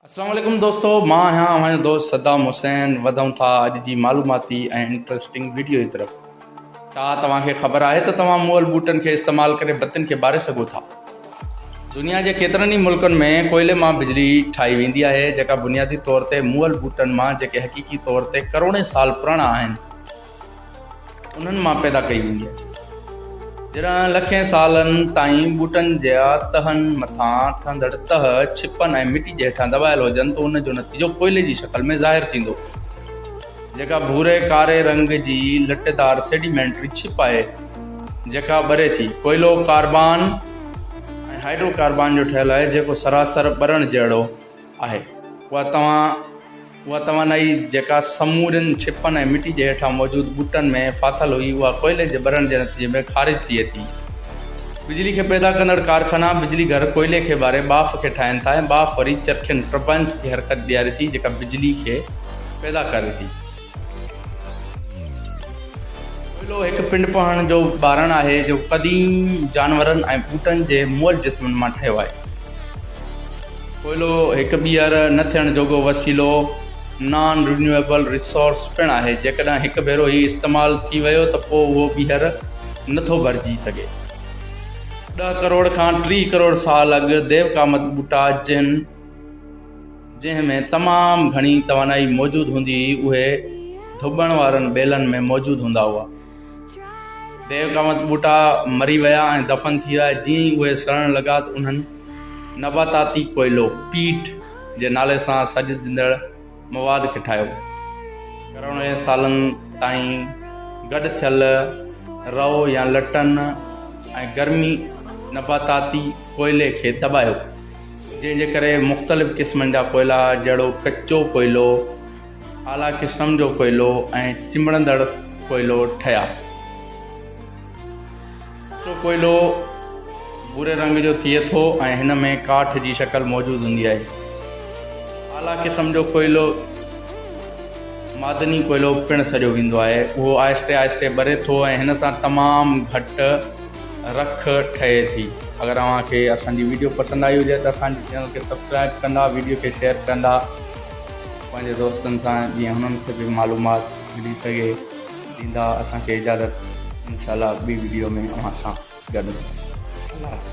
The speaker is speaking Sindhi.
السلام عليڪم دوستو مان آهيان اوهان جو دوست صدام حسين وڌون ٿا اڄ جي معلوماتي ۽ انٽرسٽنگ ويڊيو جي طرف ڇا توهان کي خبر آهي ته توهان مئل بوٽن کي استعمال ڪري بتين کي ٻاري سگهو ٿا دنيا جي ڪيترن ئي ملڪن ۾ ڪوئلي مان بجلي ٺاهي ويندي آهي جيڪا بنيادي طور تي مئل بوٽن مان جيڪي حقيقي طور تي ڪروڙين سال پراڻا آهن انهن مان پيدا ڪئي ويندي آهي. جڏهن لکين سالن تائين ٻوٽن جا تهن مٿان ٺهندڙ تهه ڇپن ۽ مٽي جي هيٺان دٻايل هجن ته ان جو نتيجو ڪوئلي جي شڪل ۾ ظاهر ٿيندو، جيڪا ڀوري ڪاري رنگ جي لٽيدار سيڊيمينٽري ڇپ آهي، جيڪا ٻري ٿي. ڪوئلو ڪاربان ۽ هائڊروڪاربان جو ٺهيل آهي، جيڪو سراسر ٻرڻ جهڙو آهي. اها توهان. اها توانائي جيڪا سمورين ڇپن ۽ مٽي جي هيٺان موجود ٻوٽن ۾ ڦاٿل هئي اها ڪوئلي جي ٻرڻ جي نتيجي ۾ خارج ٿئي ٿي. بجلي کي پيدا ڪندڙ ڪارخانا بجلي گهر ڪوئلي کي ٻاري ٻاڦ کي ٺاهين ٿا ۽ ٻاڦ وري چرخين، Turbines، کي حرڪت ڏياري ٿي جيڪا بجلي کي پيدا ڪري ٿي. ڪوئلو هڪ پنڊ پهڻ جو ٻارڻ آهي جيڪو قديم جانورن ۽ ٻوٽن جي مئل جسمن مان ٺهيو آهي. ڪوئلو هڪ ٻيهر نه ٿيڻ جوڳو وسيلو، نان رينيوئيبل ريسورس، پڻ آهي، جيڪڏهن هڪ ڀيرو هي استعمال ٿي ويو ته پوء اهو ٻيهر نه ٿو ڀرجي سگهي. ڏهه ڪروڙ کان ٽيهه ڪروڙ سال اڳ ديوڪامت ٻوٽا جن جنهن ۾ تمام گهڻي توانائي موجود هوندي هئي اهي ڌوٻڻ وارن ٻيلن ۾ موجود هوندا هئا. ديوڪامت ٻوٽا مري ويا ۽ دفن ٿي ويا، جيئن ئي اهي سڙڻ لڳا ته انهن نباتاتي ڪوئلو، پيٽ، جي نالي سان سڏجندڙ مواد کي ٺاهيو. ڪروڙين سالن تائين گڏ ٿيل رئو يا لٽن ۽ گرمي نباتاتي ڪوئلي کي دٻايو، جنهن جي ڪري مختلف قسمن جا ڪوئلا جهڙوڪ ڪچو ڪوئلو، اعليٰ قسم جو ڪوئلو ۽ چنبڙندڙ ڪوئلو ٺهيا. ڪچو ڪوئلو ڀوري رنگ جو ٿئي ٿو ۽ هن ۾ ڪاٺ جي شڪل موجود هوندي آهي. اعليٰ قسم جو ڪوئلو معدني ڪوئلو پڻ سڏيو ويندو آهي. اهو آهستي آهستي ٻري ٿو ۽ هن سان تمام گهٽ رک ٺهي ٿي. اگر اوهان کي اسان جي ويڊيو پسند آئي هجي ته اسان جي چينل کي سبسڪرائيب ڪندا، ويڊيو کي شيئر ڪندا. پنهنجي دوستن سان جيئن هنن کي به معلومات ملي سگهي ڏيندا اسان کي اجازت انشاء الله ٻي ويڊيو ۾ اوهان سان گڏ هونداسين الله حافظ.